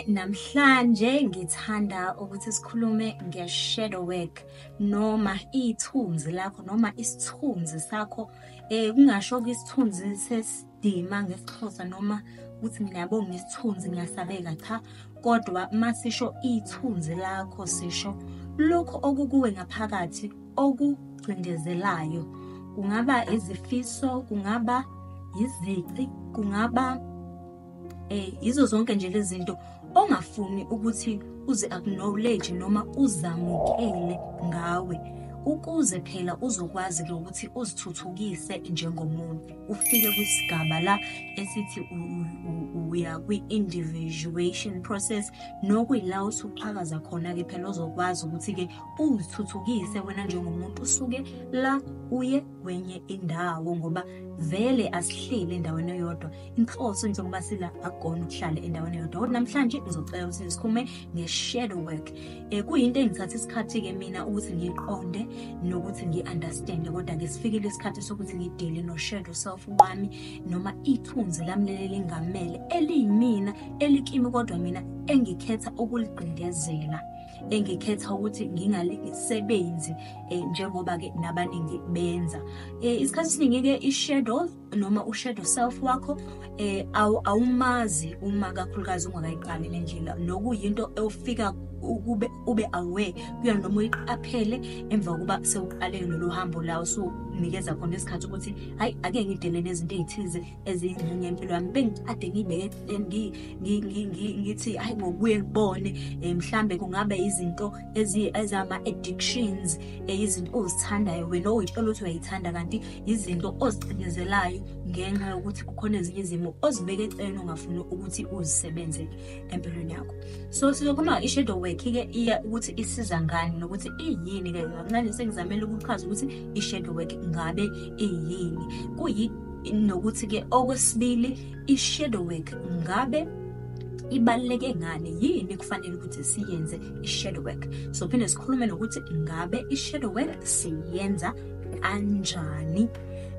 Namhlanje ngithanda ukuthi sikhulume nge-shadow work noma ithunzi lakho noma isithunzi sakho um kungasho-ke isithunzi ukudima ngesixhosa noma ukuthi mina yabo ngisithunzi ngiyasabeka cha kodwa uma sisho ithunzi lakho sisho lokho okukuwe ngaphakathi okugcindezelayo kungaba izifiso kungaba yizici kungaba eh yizo zonke nje lezinto ongafuni ukuthi uzi acknowledge noma uzamukele ngawe ukuze phela uzokwazi ukuthi uzithuthukise njengomuntu ufike kwisigaba la esithi uya kwi-individuation process nokuyila usuqhakaza khona-ke phela ozokwazi ukuthi-ke uzithuthukise wena njengomuntu usuke la uye kwenye indawo ngoba vele asihleli endaweni eyodwa inhloso njengoba sila akugona ukuhlala endaweni eyodwa kodwa namhlanje ngizocela ukuthi ngisikhume nge-shadow work um kuyinto engithatha isikhathi-ke mina ukuthi ngiqonde nokuthi ngi-understande kodwa-ke sifikile isikhathi sokuthi ngidile no-shadow self wami noma ithunzi lami leli lingamele eliyimina elikimi kodwa mina engikhetha ukuligqindezela engikhetha ukuthi ngingalisebenzi um njengoba-ke nabaningi benza um isikhathi esiningi-ke i-shadow noma ushadow self wakho eh awumazi uma kakhulukazi ungakayiqali le ndlela nokuyinto ewufika ukube ube aware kuyona noma uyiqaphele emva kokuba sewuqale lolu hambo la usunikeza khona isikhathi ukuthi hayi ake ngidele nezinto ezithize eziyingxenye yempilo yami bengikade ngibeke ngithi hayi ngokuye ngibone eh, mhlambe kungabe izinto ezama addictions eh, izinto ozithandayo wena oyithola ukuthi uyayithanda kanti izinto ozicindezelayo ngenxa yokuthi kukhona ezinye izimo ozibeke eceleni ongafuni ukuthi uzisebenze empilweni yakho so sizokhuluma i-shadow work-ke iya ukuthi isiza ngani nokuthi iyini ke kancane sengizamele ukuchaza ukuthi i-shadow work ngabe iyini kuyi nokuthi-ke okwesibili i-shadow work ngabe ibaluleke ngani yini kufanele ukuthi siyenze i-shadow work so phinde sikhulume nokuthi ngabe i-shadow work siyenza kanjani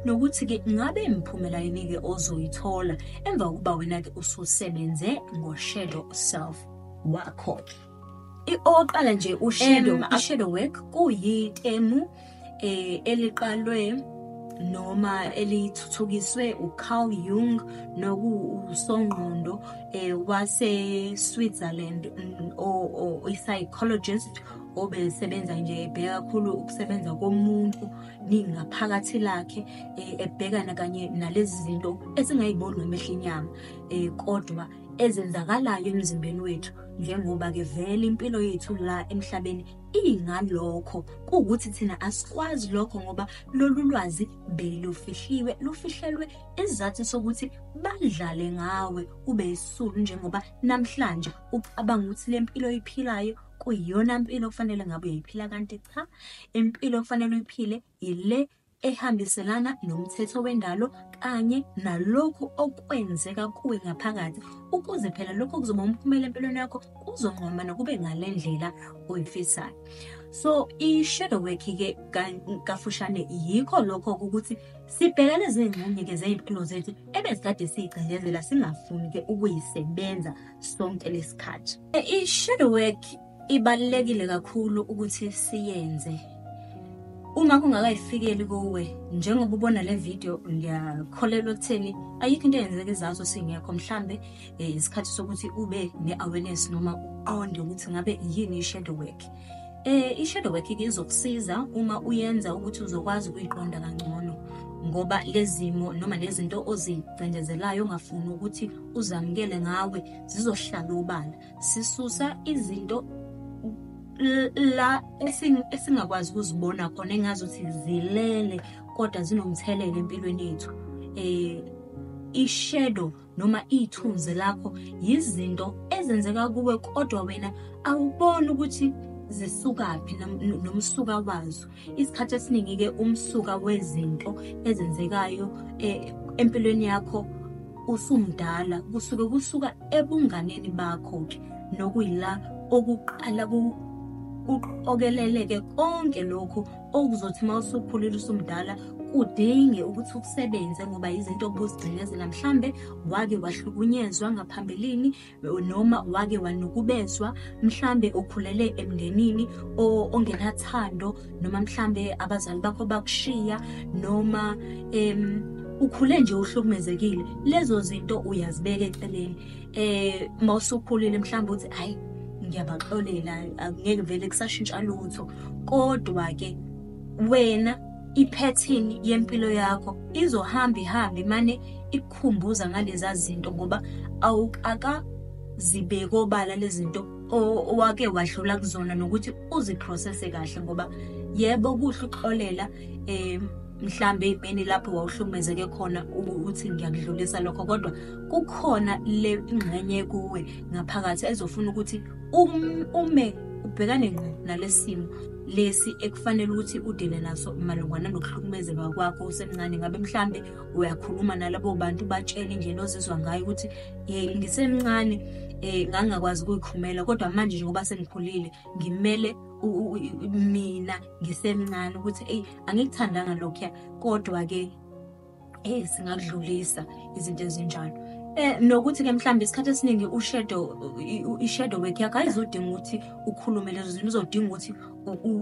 nokuthi-ke ngabe imiphumela yini-ke ozoyithola emva kokuba wena-ke ususebenze ngo-shadow self wakho-ke oqala nje ushadow ushadow work kuyitemu eh eliqalwe noma elithuthukiswe uCarl Jung nokusongqondo eh wase Switzerland mm, o psychologist obesebenza nje ebheka kakhulu ukusebenza komuntu ningaphakathi lakhe eh, ebhekana kanye nalezi zinto esingayiboni ngamehla inyama um kodwa ezenzakalayo emzimbeni wethu njengoba-ke vele impilo yethu la emhlabeni ingalokho kuwukuthi thina asikwazi lokho ngoba lolu lwazi belufihliwe lufihlelwe isizathu sokuthi badlale ngawe ube isulu njengoba namhlanje ucabanga ukuthi le mpilo oyiphilayo kuyiyona mpilo okufanele ngabe uyayiphila kanti cha impilo okufanele uyiphile yile ehambiselana nomthetho wendalo kanye nalokhu okwenzeka kuwe ngaphakathi ukuze phela lokho kuzoba umphumela empilweni yakho kuzonqoma nokube ngale ndlela oyifisayo so i-shadow work ke kafushane yikho lokho ukuthi sibheka lezi ngxenye-ke zey'mpilo zethu ebezikade siyigcindezela singafuni-ke ukuyisebenza sonke lesikhathi. I shadow work ibalekile kakhulu ukuthi siyenze. Uma kungakayifikeli kuwe njengoba ubona le video ngiyakholelwa ekutheni ayikho into eyenzeka izazo singekho mhlambe eh, isikhathi sokuthi ube ne awareness noma uqonde ukuthi ngabe yini i shadow work. Eh i-shadow work ke izokusiza uma uyenza ukuthi uzokwazi ukuyiqonda kangcono ngoba lezimo noma lezinto ozicindezelayo ongafuni ukuthi uzamukele ngawe zizohlala obala sisusa izinto la esingakwazi ukuzibona khona engazuthi zilele kodwa zinomthelela empilweni yethu eh ishadow noma ithunzi lakho yizinto ezenzeka kuwe kodwa wena awuboni ukuthi zisukaphi nomsuka wazo isikhathi esiningi-ke umsuka wezinto ezenzekayo eh, empilweni yakho usumdala kusuke kusuka ebunganeni bakho-ke nokuyila okuqala kuqokeleleke konke lokhu okuzothi uma usukhulile usumdala kudinge ukuthi ukusebenze ngoba izinto obuzigcinezela mhlambe wake wahlukunyezwa ngaphambilini noma wake wanukubezwa mhlambe ukhulele emndenini ongenathando noma mhlambe abazali bakho bakushiya noma um ukhule nje uhlukumezekile lezo zinto uyazibeka eceleni eh mawusukhulile mhlawumbe uthi hayi ngiyabaxolela ngeke vele kusashintsha lutho kodwa ke wena iphethini yempilo yakho izohamba ihambe mane ikukhumbuza ngaleza zinto ngoba awukaka zibeke obala lezinto owake wadlula kuzona nokuthi uziprocesse kahle ngoba yebo kuhle ukuxolela um mhlambe imini lapho wawuhlukumezeke khona uthi ngiyakudlulisa lokho kodwa kukhona le ingxenye kuwe ngaphakathi ezofuna ukuthi um-, ume ubhekane ngqo nalesimo lesi ekufanele ukuthi udile naso malungana nokuhlukumezeka kwakho usemncane ngabe mhlambe uyakhuluma nalabo bantu batshele indlela ozizwa ngayo ukuthi hey ngisemncane eh ngangakwazi ukuyikhumela kodwa manje njengoba sengikhulile ngimele mina ngisemncane ukuthi eyi angikuthandanga lokhuya kodwa-ke eh singakudlulisa izinto ezinjalo eh nokuthi ke mhlawumbe isikhathi esiningi ushadow ishadow work yakho ayizodinga ukuthi ukhulume lezo zinto uzodinga ukuthi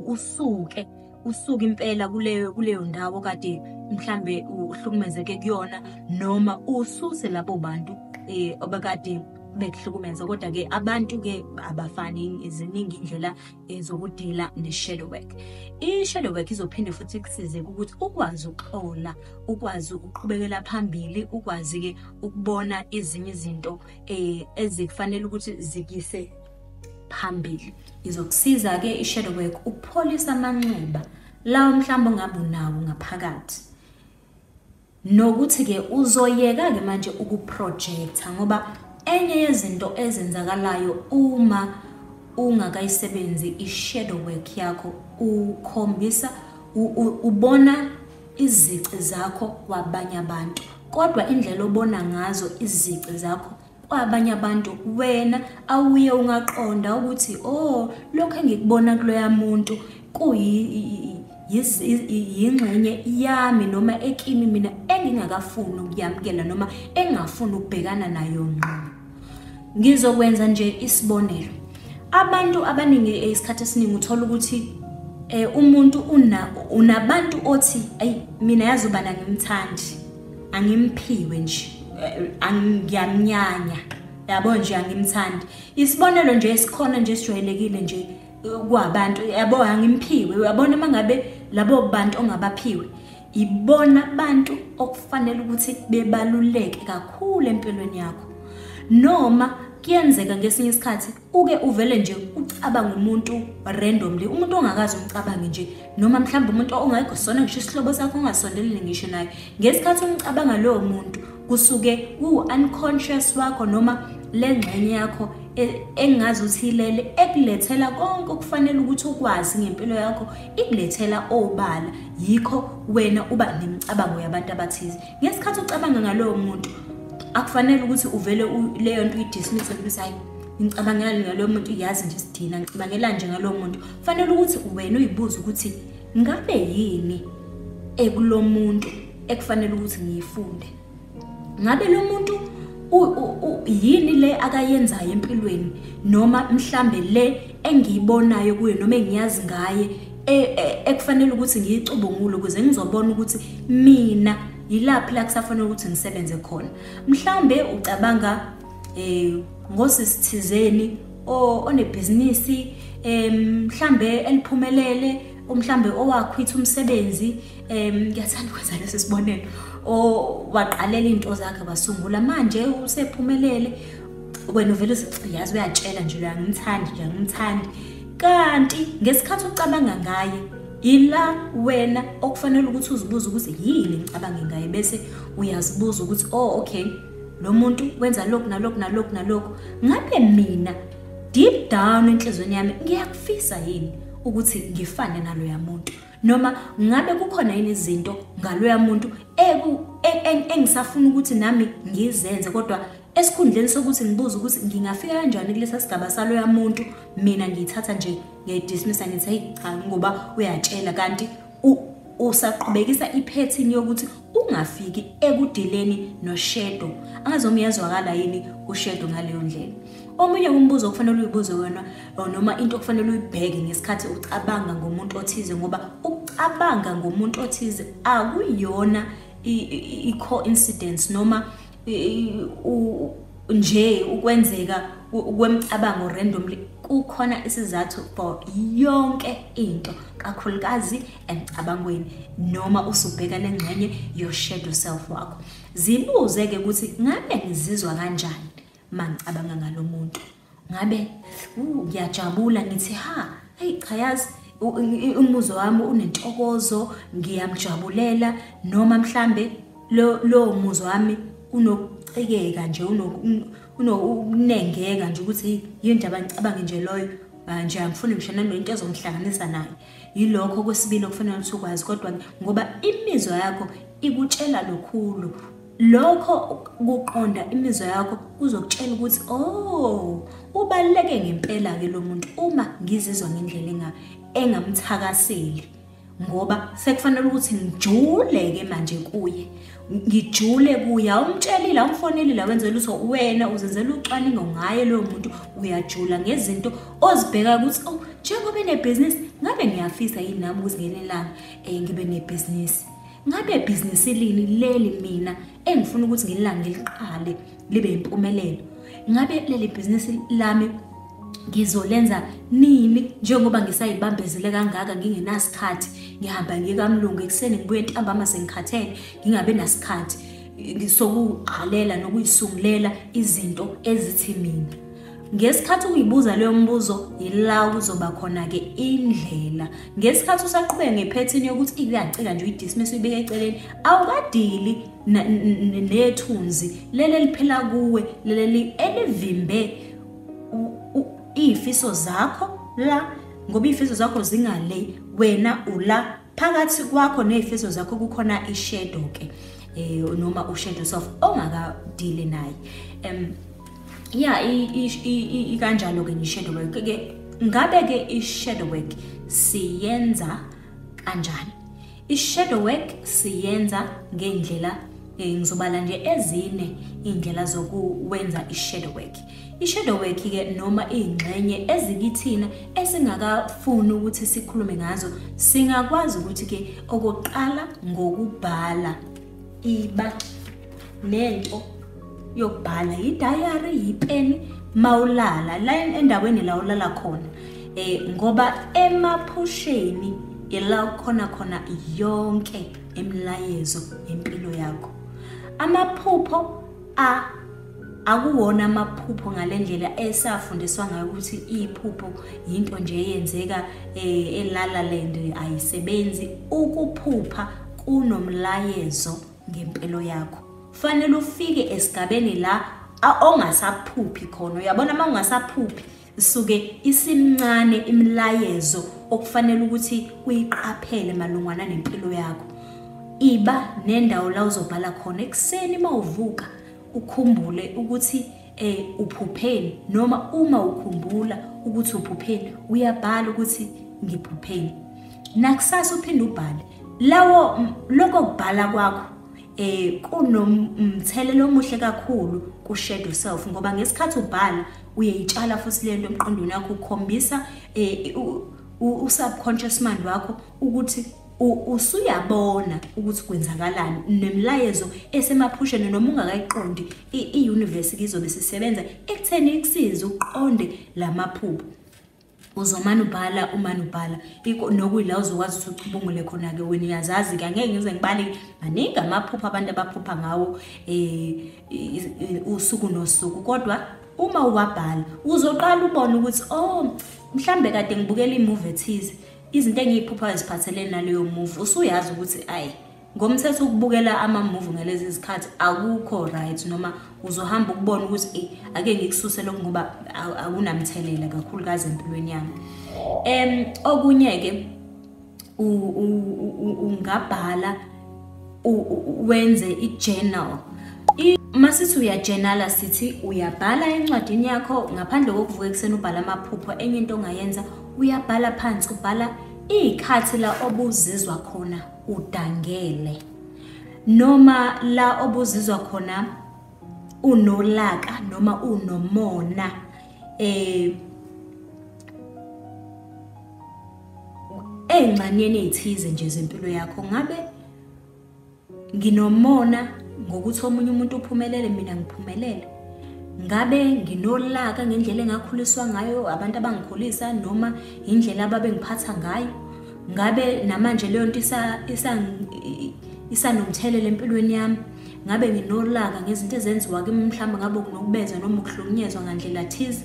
usuke usuke impela kuleyo kuleyo ndawo kade mhlambe uhlukumezeke kuyona noma ususe labo bantu eh obekade bekuhlukumeza kodwa ke abantu ke abafani iziningi indlela ezokudila ne-shadow work i-shadow work izophinde futhi ikusize ukuthi ukwazi ukuhlola ukwazi ukuqhubekela phambili ukwazi-ke ukubona ezinye izinto um eh, ezikufanele ukuthi zikise phambili izokusiza-ke i-shadow work ukupholisa amanxeba lawo mhlawumbe ongabe unawo ngaphakathi Nokuthi-ke uzoyeka-ke manje ukuprojecta ngoba enye yezinto ezenzakalayo uma ungakayisebenzi i-shadow work yakho ukhombisa ubona izici zakho kwabanye abantu kodwa indlela obona ngazo izici zakho kwabanye abantu wena awuye ungaqonda ukuthi oh lokho engikubona kuloya muntu kuyingxenye yami noma ekimi mina engingakafuni ukuyamukela noma engingafuni ukubhekana nayo ngqo ngizokwenza nje isibonelo abantu abaningi isikhathi esiningi uthola ukuthi eh umuntu una unabantu othi ayi mina yazi ubana ngimthandi angimphiwe nje eh, ngiyamnyanya yabo nje angimthandi isibonelo nje esikhona nje sijwayelekile nje eh, kwabantu yabo angimphiwe uyabona uma ngabe labo bantu ongabaphiwe ibona abantu okufanele ukuthi bebaluleke kakhulu empilweni yakho noma kuyenzeka ngesinye isikhathi uke uvele nje ucabanga umuntu randomly umuntu ongakazi umcabange nje noma mhlawumbe umuntu ongayikho sona ngisho isihlobo sakho ongasondelile ngisho naye ngesikhathi umcabanga lowo muntu kusuke kuwu-unconscious wakho noma le ngxenye yakho e, engazi ukuthi ilele ekulethela konke okufanele ukuthi ukwazi ngempilo yakho ikulethela obala yikho wena uba nemicabango yabantu abathize ngesikhathi ucabanga ngalowo muntu akufanele ukuthi uvele leyo nto uyidismisse ukuthi hayi ngicabangela ngalowo muntu yazi nje sidina ngicabangela nje ngalowo muntu kufanele ukuthi wena uyibuze ukuthi ngabe yini ekulo muntu ekufanele ukuthi ngiyifunde ngabe lo muntu yini le akayenzayo empilweni noma mhlambe le engiyibonayo kuye noma engiyazi ngaye e, e, ekufanele ukuthi ngiyicubungule ukuze ngizobona ukuthi mina yilaphi la kusafanele ukuthi ngisebenze khona mhlambe ucabanga eh ngosisithizeni onebhizinisi mhlambe eliphumelele umhlambe owakhwitha umsebenzi em ngiyathanda ukwenza lesi sibonelo owaqalela into zakhe basungula manje usephumelele wena uvele uyazi uyatshela nje loya ngimthandi nje ngimthandi kanti ngesikhathi ucabanga ngaye ila wena okufanele ukuthi uzibuze ukuthi yini ngicabange ngaye bese uyazibuza ukuthi oh okay lo muntu wenza lokhu nalokhu nalokhu nalokhu ngabe mina deep down enhlizweni yami ngiyakufisa yini ukuthi ngifane naloya muntu noma ngabe kukhona yini izinto ngaloya muntu eku engisafuna ukuthi nami ngizenze kodwa esikhundleni sokuthi ngibuze ukuthi ngingafika kanjani kulesa sigaba saloya muntu mina ngiyithatha nje ngiyayidismisa ngithi heyi cha ngoba uyatshela kanti usaqhubekisa iphethini yokuthi ungafiki ekudileni noshedo angazi uma iyazwakala yini ushedo ngaleyo ndlela omunye umbuzo okufanele uyibuze wena noma into okufanele uyibheke ngesikhathi ucabanga ngomuntu othize ngoba ukucabanga ngomuntu othize akuyona i-coincidence noma nje ukwenzeka kwemicabango randomly kukhona isizathu for yonke into kakhulukazi emcabangweni noma usubheka nengxenye your shadow self wakho zibuze ke ukuthi ngabe ngizizwa kanjani mangicabanga ngalomuntu ngabe ngiyajabula ngithi ha hey cha yazi umuzwa wami unentokozo ngiyamjabulela noma mhlambe lo lo muzwa wami unokucekeka nje unokunengeka nje ukuthi yini nje abangicabange nje loyo manje angifuni ngisho nanoyinto ezongihlanganisa naye yilokho kwesibili okufanele ukuthi ukwazi kodwa ngoba imizwa yakho ikutshela lokhulu Lokho kuqonda imizwa yakho kuzokutshela ukuthi oh ubaluleke ngempela ke lo muntu uma ngizizwa ngendlela enga engamthakaseli ngoba sekufanele ukuthi ngijule ke manje kuye ngijule kuye awumtshelile awumfonelile wenzela uso wena uzenzela ucwaningo ngaye loyo muntu uyajula ngezinto ozibheka ukuthi oh njengoba enebhizinisi ngabe ngiyafisa yini nami ukuzingenelanga um eh, ngibe nebhizinisi Ngabe business lini leli mina engifuna ukuthi ngililanga ngiliqale libe impumelelo? Ngabe leli business lami ngizolenza nini njengoba ngisayibambezele kangaka ngingenasikhathi ngihamba ngikamlungu ekuseni ngibuye ntambama sengikhathele ngingabe nasikhathi sokuqalela nokuyisungulela izinto ezithi mina Ngesikhathi uyibuza leyo mbuzo yila kuzoba khona-ke indlela. Ngesikhathi usaqhubeka ngephethini yokuthi ikuyacika nje uyidismiss uyibeke eceleni, awukadili nethunzi leli eliphila kuwe leli elivimbe iy'fiso zakho la ngoba iy'fiso zakho zingale wena ula phakathi kwakho nezifiso zakho kukhona ishadow ke eh noma ushadow self ongaka deal naye em yeah i kanjalo ke nishadow work ke ngabe ke ishadow work siyenza kanjani ishadow work siyenza ngendlela eh, ngizobala nje ezine indlela zokuwenza ishadow work I-shadow work-ke noma iy'ngxenye ezikithina esingakafuni ukuthi sikhulume ngazo singakwazi ukuthi-ke okokuqala ngokubhala iba nento yokubhala yidayari yipeni mawulala la endaweni la ulala khona eh ngoba emaphusheni ila khona khona yonke imilayezo yempilo yakho amaphupho a akuwona amaphupho ngale ndlela esafundiswa ngayo ukuthi iphupho yinto nje eyenzeka eh, elala land ayisebenzi ukuphupha kunomlayezo ngempilo yakho fanele ufike esigabeni la ongasaphuphi khona uyabona uma ungasaphuphi isuke isimncane imilayezo okufanele ukuthi uyiqaphele malungwana nempilo yakho iba nendawo la uzobhala khona ekuseni uma uvuka ukhumbule ukuthi eh uphupheni noma uma ukhumbula ukuthi uphupheni uyabhala ukuthi ngiphupheni nakusasa uphinde ubhale lawo lokho kubhala kwakho eh kunomthelelo omuhle kakhulu ku shadow self ngoba ngesikhathi ubhala uyayitshala futhi le nto emqondweni wakho ukhombisa eh, u-subconscious mind wakho ukuthi usuyabona ukuthi kwenzakalani nemlayezo esemaphusheni noma ungakayiqondi i-universe kizobe sisebenza ekutheni ikusize uqonde la maphupho uzomane ubhala umane ubhala nokuyila uzokwazi ukuthi uchubungule khona-ke wena uyazazi ke angeke ngize ngibale maningi amaphupha abantu abaphupha ngawo um usuku nosuku kodwa uma uwabhala uzoqala ubone ukuthi o oh, mhlawumbe kade ngibukela imuvi ethize izinto engiy'phuphayo ziphathelene naleyo muvi usuyazi ukuthi ayi ngomthetho ukubukela amamuvi ngalezi zikhathi akukho right noma uzohamba ukubona ukuthi eyi ake ngikususe lokhu ngoba akunamthelela kakhulukazi empilweni yami um okunye-ke ungabhala wenze i-journal uma sithi uyajenala sithi uyabhala encwadini yakho ngaphandle kokuvuka ekuseni ubhala amaphupho enye into ongayenza uyabhala phansi ubhala iy'khathi la obuzizwa khona udangele noma la obuzizwa khona unolaka noma unomona eh engxanyeni ezithize nje zempilo yakho ngabe nginomona ngokuthi omunye umuntu uphumelele mina ngiphumelele ngabe nginolaka ngendlela engakhuliswa ngayo abantu abangikhulisa noma indlela ababengiphatha ngayo ngabe namanje leyo nto isanomthelela empilweni yami ngabe nginolaka ngezinto ezenziwa kimi mhlawumbe ngabe kunokubeza noma ukuhlukunyezwa ngandlela thize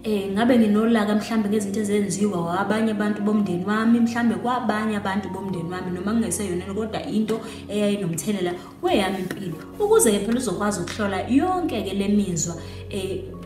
eh ngabe nginolaka mhlambe ngezinto ezenziwa abanye abantu bomndeni wami mhlambe kwabanye abantu bomndeni wami noma kungeseyona kodwa into eyayinomthelela kweyami impilo ukuze-ke phela uzokwazi ukuhlola yonke-ke le mizwa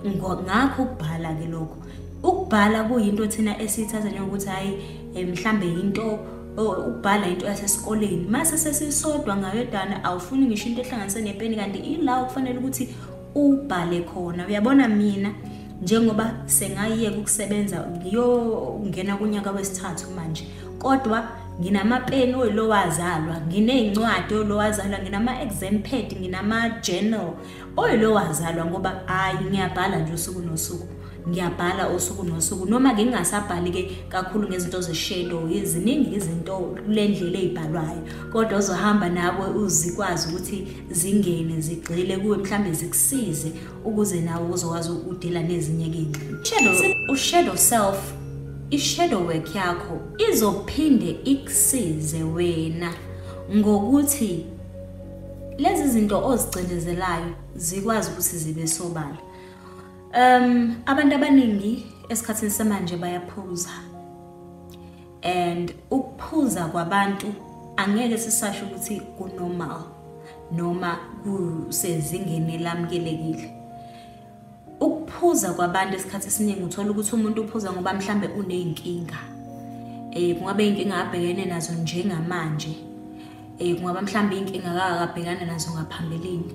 um ngakho ukubhala-ke lokho ukubhala kuyinto thina esiyithatha njengokuthi hhayi um mhlawumbe yinto ukubhala into yasesikoleni mase sesisodwa ngayodwana awufuni ngisho into ehlanganise nepeni kanti ila okufanele ukuthi ubhale khona uyabona mina njengoba sengayiyeka ukusebenza ngiyongena kunyaka wesithathu manje kodwa nginamapeni oyilowazalwa nginey'ncwadi oyilowazalwa nginama-exam pad nginama-journal oyilowazalwa ngoba hhayi ngiyabhala nje usuku nosuku ngiyabhala usuku nosuku noma ngingasabhali-ke kakhulu ngezinto zeshadow ziningi izinto kule ndlela ey'bhalwayo kodwa uzohamba nawe uzikwazi ukuthi zingene zigxile kuwe mhlawumbe zikusize ukuze nawe uzokwazi ukudila nezinye-ke ingxini ushadow self ishadow work yakho izophinde ikusize wena ngokuthi lezi zinto ozigcinezelayo zikwazi ukuthi zibe sobala Um abantu abaningi esikhathini samanje bayaphuza. And ukuphuza kwabantu angeke sisasho ukuthi kunormal noma kusezingeni lamkelekile. Ukuphuza kwabantu esikhathi esiningi uthola ukuthi umuntu uphuza ngoba mhlambe uneyinkinga. Eh kungabe inkinga abhekene nazo njengamanje. eh kungaba mhlawumbe inkinga akakabhekana nazo ngaphambilini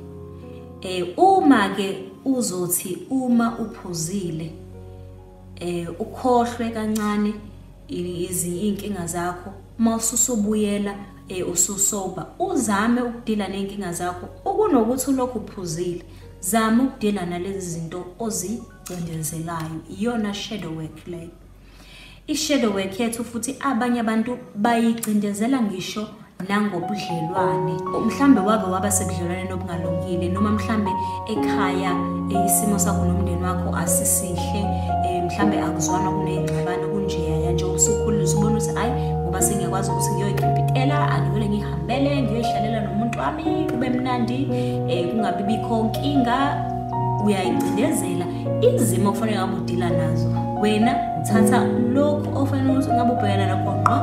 eh uma ke uzothi uma uphuzile eh ukhohlwe kancane izinkinga zakho uma ususubuyela eh ususoba uzame ukudila nenkinga zakho okunokuthi ulokhu uphuzile zama ukudila nalezi zinto ozicindezelayo iyona shadow work leyo I-shadow work yethu futhi abanye abantu bayigcindezela ngisho nangobudlelwane mhlambe wake waba sebudlelwaneni obungalungile noma mhlambe ekhaya eh, isimo sakho nomndeni wakho asisihle eh, mhlambe akuzwana kuneyingxabano kunjeya yanje usukhulile usubona ukuthi hayi ngoba sengiyakwazi ukuthi ngiyoyikipitela angivele ngihambele ngiyoyihlalela nomuntu wami kube mnandi um kungabi bikho nkinga uyayigcindezela izimo okufanele ngabe udila nazo wena uthatha lokhu ofanele ukuthi ngabe ubhekana nakho ngqo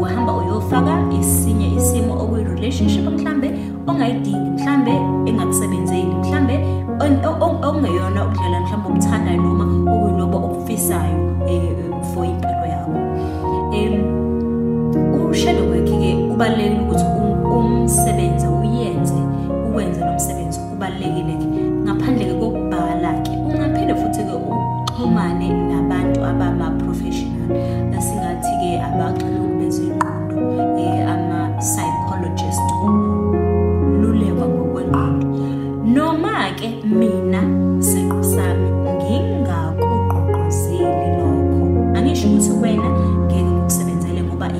uhamba uyofaka esinye isimo okuyi-relationship mhlambe ongayidingi mhlambe engakusebenzeli mhlambe okungeyona ukudlela mhlambe obuthandayo noma okuyilobo okufisayo um for impilo yakho um ushadow work-ke kubalulekile ukuthi um, umsebenzi uyenze uwenze lo msebenzi kubalulekile ke ngaphandle ke kokubhala ke ungaphinde futhi ke uxhumane nabantu abama professional singathi ke abaxilongo bezengqondo eh ama psychologist ululekwa ngokwengqondo noma ke mina siqu sami ngingakugqugquzeli lokho angisho ukuthi wena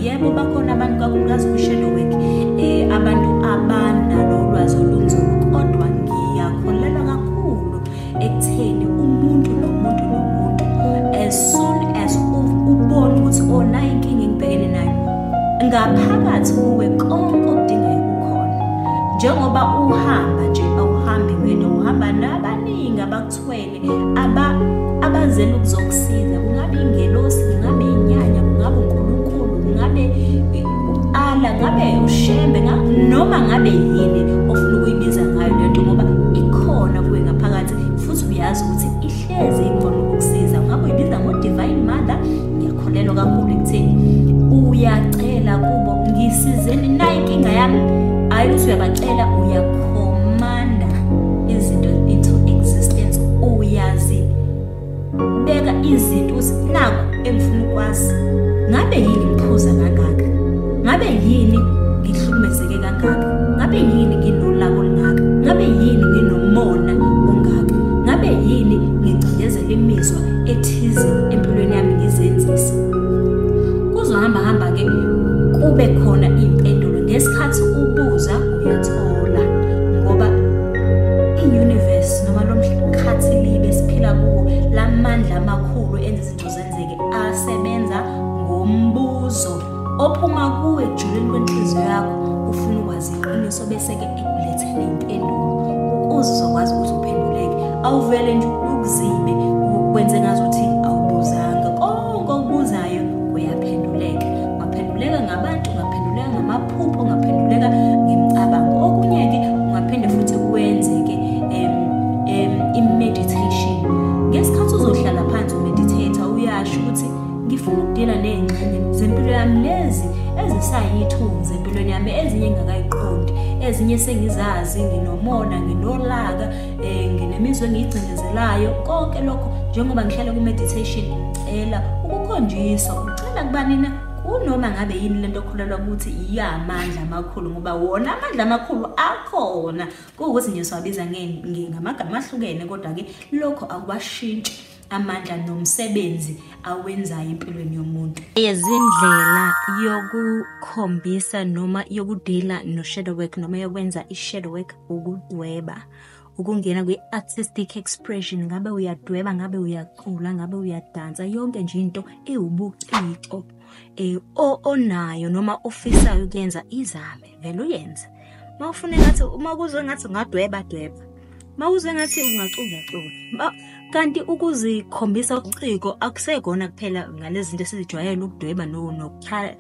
yebo bakhona abantu kakhulukazi kwi-shadowwork um eh, abantu abanalo ulwazi olunzulu kodwa ngiyakholelwa kakhulu ekutheni umuntu nomuntu nomuntu as soon as ubona ukuthi onayo oh, inkinga engibhekene nayo ngaphakathi kuwe konke okudingayo kukhona njengoba uhamba nje awuhambi wedwa uhamba nabaningi abakuthwele aba abazela ukuzokusiza kungabe ingelosi kungabe inyanya kungabe unkulunkulu kungabe ala ngabe ushembe noma ngabe yini ofuna ukuyibiza ngayo lento ngoba ikhona kuwe ngaphakathi futhi uyazi ukuthi ihlezi ikhona ukukusiza ngabe uyibiza ngo-divine mother ngiyakholelwa kakhulu ekutheni uyacela kubo ngisizeni nayo inkinga yami hhayi ukuthi uyabacela uyakhomanda izinto into existence uyazi beka izinto ukuthi naku engifuna ukwazi ngabe yini ngiphuza kangaka ngabe yini ngihlukumezeke kangaka kangaka ngabe yini nginolaka olungaka ngabe yini nginomona ongaka ngabe yini ngicindezela imizwa ethize empilweni yami ngizenzisa kuzohamba hamba ke kube khona impendulo ngesikhathi ubuza uyathola ngoba i-universe noma lo mkhathi libe siphila kuwo la mandla amakhulu enza izinto zenzeke asebenza ngombuzo ophuma kuwe ekujuleni kwenhliziyo yakho ufuna ukwazi iqiniso bese-ke ekulethele impendulo ukuze uzokwazi ukuthi uphenduleke awuvele nje ukuzibe kwenze ngazuthi awubuzanga konke okubuzayo kuyaphenduleka ungaphenduleka ngabantu ungaphenduleka ngamaphupho ungaphenduleka ngemicabango okunye-ke ungaphinde futhi wenze-ke um, um, i-meditation ngesikhathi uzohlala phansi umeditate uyasho ukuthi ngifuna ukudila ney'ngxenye zempilo yami lezi ezisayithunzi empilweni yami ezinye ngingakayiqondi ezinye sengizazi nginomona nginolaka um eh, nginemizwa engiyigcindezelayo konke lokho njengoba ngihlale ku-meditation ngicela ukukhonjiswa ucela kubanina kunoma ngabe yini lento okholelwa ukuthi iyamandla amakhulu ngoba wona amandla amakhulu akhona kuwukuthi nje siwabiza ngamagama ahlukene kodwa-ke lokho akuwashintshi amandla nomsebenzi awenzayo empilweni yomuntu izindlela yokukhombisa noma yokudila no-shadow work noma yokwenza i-shadow work ukudweba ukungena kwi-artistic expression ngabe uyadweba ngabe uyacula ngabe uyadansa yonke nje into ewubuciko um onayo noma ofisayo ukuyenza izame vele uyenze uma ufuna ngathi uma kuzwe ngathi ungadweba dweba uma uzwe ngathi ungacula cula kanti ukuzikhombisa ubuciko akusekona kuphela ngalezi zinto esizijwayele ukudweba nokukhala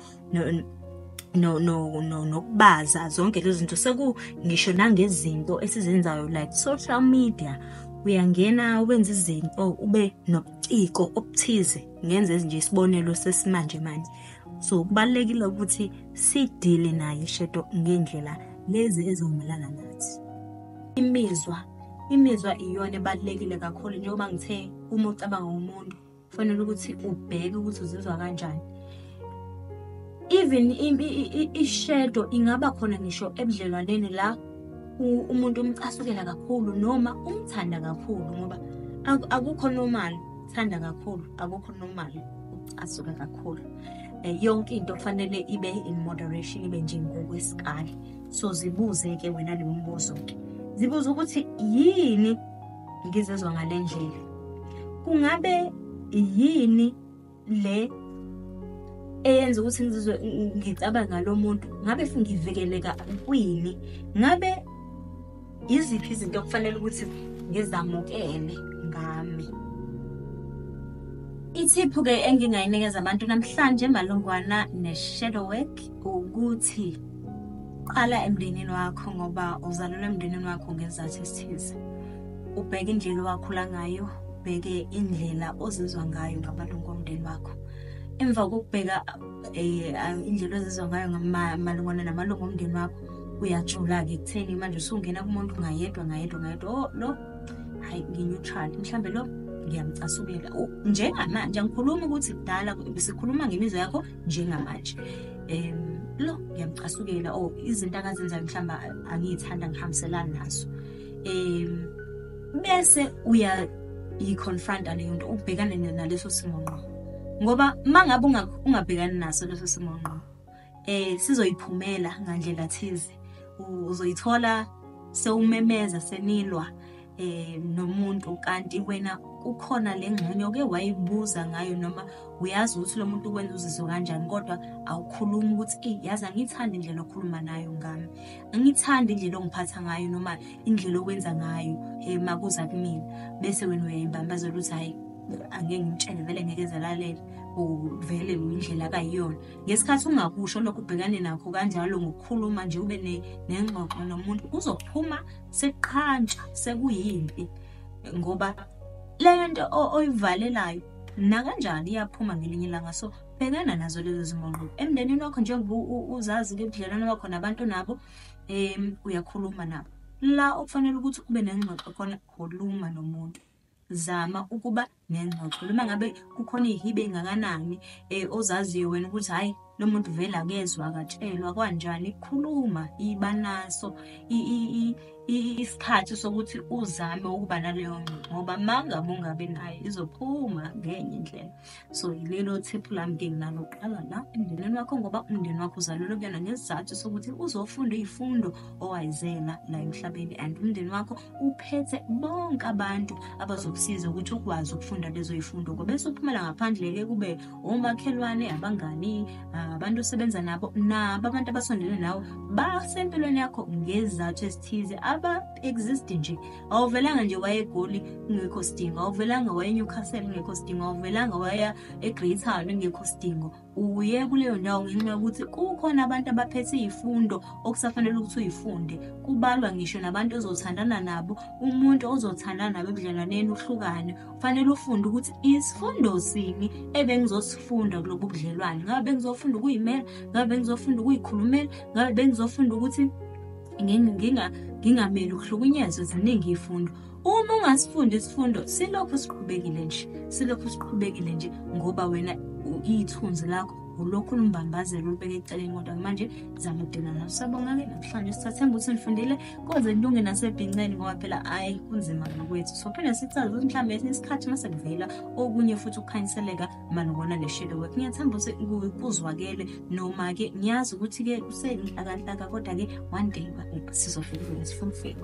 no no no nokubaza zonke lezi zinto seku ngisho nangezinto esizenzayo like social media uyangena wenza izinto ube nobuciko obuthize ngenze nje isibonelo sesimanje manje so kubalekile ukuthi sidile naye ishedo ngendlela lezi ezomelana nathi imizwa imizwa iyona ebalekile kakhulu njengoba ngithe uma ucabanga umuntu kufanele ukuthi ubheke ukuthi uzizwa kanjani even ishedo ingaba khona ngisho ebudlelwaneni la umuntu umcasukela kakhulu noma umthanda kakhulu ngoba akukho normal thanda kakhulu akukho normal asuke kakhulu eh, yonke into kufanele ibe in moderation ibe nje ngokwesikali so zibuze ke wena le mbuzo ke zibuze ukuthi yini ngizezwa ngale ndlela kungabe yini le eyenza ukuthi ngizizwe ngicabanga lo muntu ngabe ngivikeleka kwini ngabe Yiziphi izinto okufanele ukuthi ngizamukele ngami? Ithiphu-ke engingayinikeza abantu namhlanje malungwana ne-shadow work ukuthi qala emndenini wakho ngoba uzalelwe emndenini wakho ngezathu esithize ubheke indlela owakhula ngayo ubheke indlela ozizwa ngayo ngamalungu omndeni wakho emva kokubheka um indlela ozizwa ngayo malungwana namalungu omndeni wakho uyajula-ke ekutheni manje usungena kumuntu ngayedwa ngayedwa ngayedwa o oh, lo hhayi ngi-neutral mhlawumbe lo ngiyamcasukela njengamanje angikhulumi ukuthi kudala sikhuluma ngemizwa yakho njengamanje um lo ngiyamcasukela o oh, izinto akazenzayo mhlawumbe angiyithanda ngihambiselani nazo um bese uyayi-confronta leyo nto ubhekane naleso simo ngqo ngoba uma ngabe ungabhekani naso leso simo ngqo eh sizoyiphumela ngandlela thize uzoyithola sewumemeza senilwa eh nomuntu kanti wena kukhona lengxenye oke wayibuza ngayo noma uyazi ukuthi lo muntu ukwenza uzizwe kanjani kodwa awukhulumi ukuthi eyi yazi angiyithandi indlela okhuluma nayo ngami angiyithandi indlela ongiphatha ngayo noma indlela okwenza ngayo um makuza kumina bese wena uyayimbambazela ukuthi hhayi angeke ngimtshele vele ngeke zalalela uvele indlela akayiyona ngesikhathi ungakusho lokhu ubhekane nakho kanjalo ngokukhuluma nje ube nengxoxo nomuntu kuzophuma sekuqhantsha sekuyimpi ngoba le nto oyivalelayo nakanjani iyaphuma ngelinye ilanga so bhekana nazo lezo zimongqo emndenini wakho njengoba uzazi ke ubudlelwane bakho nabantu nabo um uyakhuluma nabo la okufanele ukuthi ube nengxoxo khona khuluma nomuntu zama ukuba nengxoxo noma ngabe kukhona iy'hibe ey'ngakanani um ozaziyo wena ukuthi hhayi lo muntu vele akezwa akatshelwa kwanjani ikhuluma iba naso isikhathi sokuthi uzame ukuba naleyo ngxoxo ngoba ma ngabe ungabi nayo izophuma ngenye indlela so yilelo thiphu lami ke nginalo kuqala la emndenini wakho ngoba umndeni wakho uzalelwe kuyona ngesizathu sokuthi uzofunda iy'fundo owayizela la emhlabeni and umndeni wakho uphethe bonke abantu abazokusiza ukuthi ukwazi ukufunda lezo yifundo ngoba bese uphumela ngaphandle-ke kube omakhelwane abangani ah, abantu osebenza nabo nabo abantu abasondele nawe basempilweni yakho ngezizathu ezithize aba-exist nje awuvelanga nje waya egoli kungekho sidingo awuvelanga waya enewcastle kungekho sidingo awuvelanga waya egreatown kungekho sidingo uye kuleyo ndawo ngisho ukuthi kukhona abantu abaphethe izifundo okusafanele ukuthi uyifunde kubalwa ngisho nabantu ozothandana nabo umuntu ozothandana nabo ebudlelwaneni uhlukane kufanele ufunde ukuthi isifundo sini ebengizosifunda kulobu budlelwane ngabe bengizofunda ukuyimela ngabe bengizofunda ukuyikhulumela ngabe bengizofunda ukuthi ngingameli ukuhlukunyezwa ziningi iy'fundo uma ungasifundi isifundo silokhu siqhubekile nje silokhu siqhubekile nje ngoba wena ithunzi lakho ulokhu lumbambazela ulubeke eceleni kodwa manje zama udina naso sabonga-ke namhlanje sisathemba ukuthi nifundile koze kulunge nasebhinceni ngoba phela ayi kunzima ngokwethu so phinde sikucaze ukuthi mhlawumbe esinye isikhathi uma sekuvela okunye futhi ukukhanyiseleka malubona le shadow work ngiyathemba ukuthi kuzwakele noma-ke ngiyazi ukuthi-ke kusenhlakanhlaka kodwa-ke one day sizofika sifunifika